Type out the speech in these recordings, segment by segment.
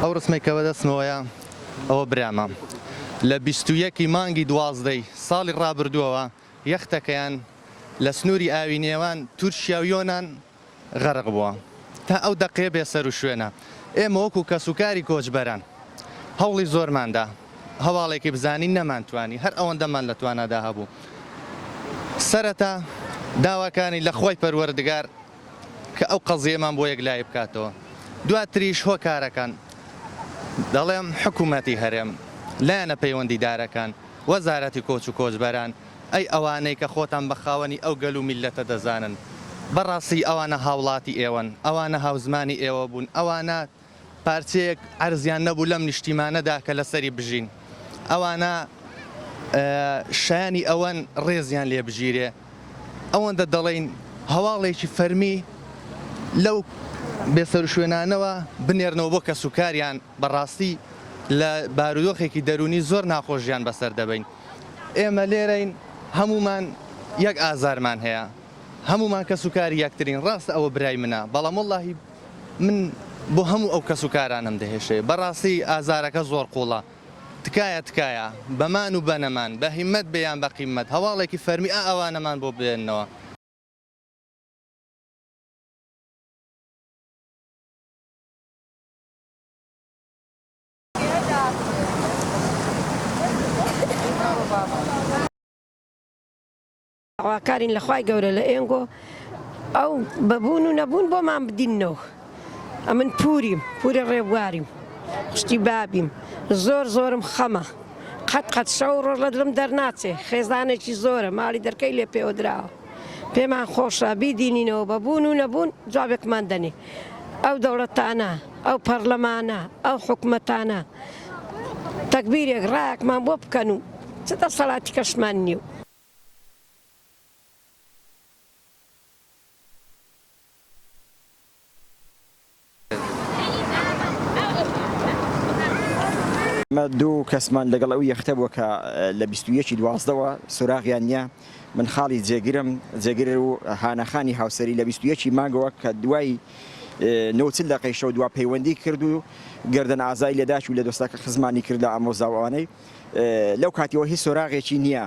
ئەو ڕسمەی کە بەدەستمەوەیە ئەوە برامە لە بیست و یەک ی مانگی دوازدەی ساڵی ڕابردووەوە یەختەکەیان لە سنووری ئاوی نێوان تورکیا و یۆنان غەرق بووە تا ئەو دەقەیە بێ سەرو شوێنە ئێمە وەکو کەسوکاری کۆچبەران هەوڵی زۆرماندا هەواڵێکی بزانین نەمانتوانی هەر ئەوەندەمان لە توانادا هەبوو سەرەتا داواکانی لە خوای پەروەردگار کە ئەو قەزیەمان بۆ یەکلایی بکاتەوە دواتریش هۆکارەکان دەڵێم حکومەتی هەرێم لایەنە پەیوەندیدارەکان وەزارەتی کۆچ و کۆچبەران ئەی ئەوانەی کە خۆتان بە خاوەنی ئەو گەل و میللەتە دەزانن، بە ڕاستی ئەوانە هاوڵاتی ئێوەن، ئەوانە هاوزمانی ئێوە بوون، ئەوانە پارچەیەک عەرزیان نەبوو لەم نیشتیمانەدا کە لەسەری بژین، ئەوانە شایانی ئەوەن ڕێزیان لێ بگیرێ، ئەوەندە دەڵێین هەواڵێکی فەرمی لەو بێسەروشوێنانەوە بنێرنەوە بۆ کەسوکاریان، بە ڕاستی لە بارودۆخێکی دەروونی زۆر ناخۆشیان بەسەر دەبەین. ئێمە لێرەین هەموومان یەک ئازارمان هەیە هەموومان کەس و کاری یەکترین ڕاستە ئەوە برای منە بەڵام وەڵاهی من بۆ هەموو ئەو کەس و کارانم دەهێشێ بەڕاستی ئازارەکە زۆر قوڵە تکایە تکایە بەمان و بەنەمان بە هیمەت بێ یان بە قیمەت هەواڵێکی فەرمی ئا ئەوانەمان بۆ بێننەوە. داواکارین لە خوای گەورە لە ئێنگۆ ئەو بەبوون و نەبوون بۆمان بدینەوە ئەمن پوریم پورە ڕێبواریم شتی بابیم زۆر زۆرم خەمە قەت قەت شەو ڕۆژ لە دڵم دەرناچێ خێزانێکی زۆرە ماڵی دەرکەی لێ پێوەدراوە پێمان خۆشە بیدینینەوە بە بوون و نەبوون جوابێکمان دەنێ ئەو دەوڵەتانە ئەو پەڕلەمانە ئەو حکومەتانە تەگبیرێک ڕایەکمان بۆ بکەن و چ دەسەڵاتی کەشمان نییە. ئێمە دوو کەسمان لەگەڵ ئەو یەختە بووە کە لە بیست و یەک ی دوازدەوە سۆراغیان نییە، من خاڵی جێگرم، جێگر و هانا خانی هاوسەری لە بیست و یەک ی مانگەوە کە دوای نۆ و چل دەقەی شەو دوا پەیوەندی کرد و گەردەن ئازای لە داکی و لە دۆستەکە خزمانی کرد لە ئامۆزا و ئەوانەی لەو کاتیەوە هیچ سۆراغێکی نییە.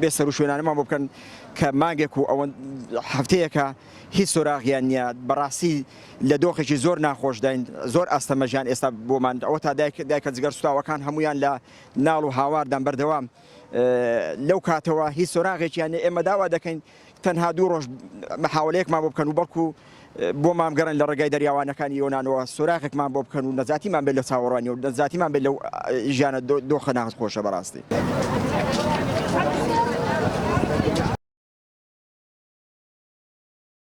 بێ سەروشوێنانەمان بۆ بکەن کە مانگێک و ئەوەن هەفتەیەکە هیچ سۆراغیان نییە بەڕاستی لە دۆخێکی زۆر ناخۆشداین زۆر ئاستەمەژیان ئێستا بۆمان ئەوە تا دایک دایکە جگەر سوتاوەکان هەمویان لە ناڵ و هاواردان بەردەوام لەو کاتەوە هیچ سۆراغێکیان ئێمە داوا دەکەین تەنها دوو ڕۆژ محاولەیەکمان بۆ بکەن و بەڵکو بۆمان بگەڕێن لە ڕێگای دەریاوانەکانی یۆنانەوە سۆراغێکمان بۆ بکەن و نەجاتیمان بێت لە چاوەڕوانی و نەجاتیمان بێت لەو ژیانە دۆخە ناخۆشە بەڕاستی.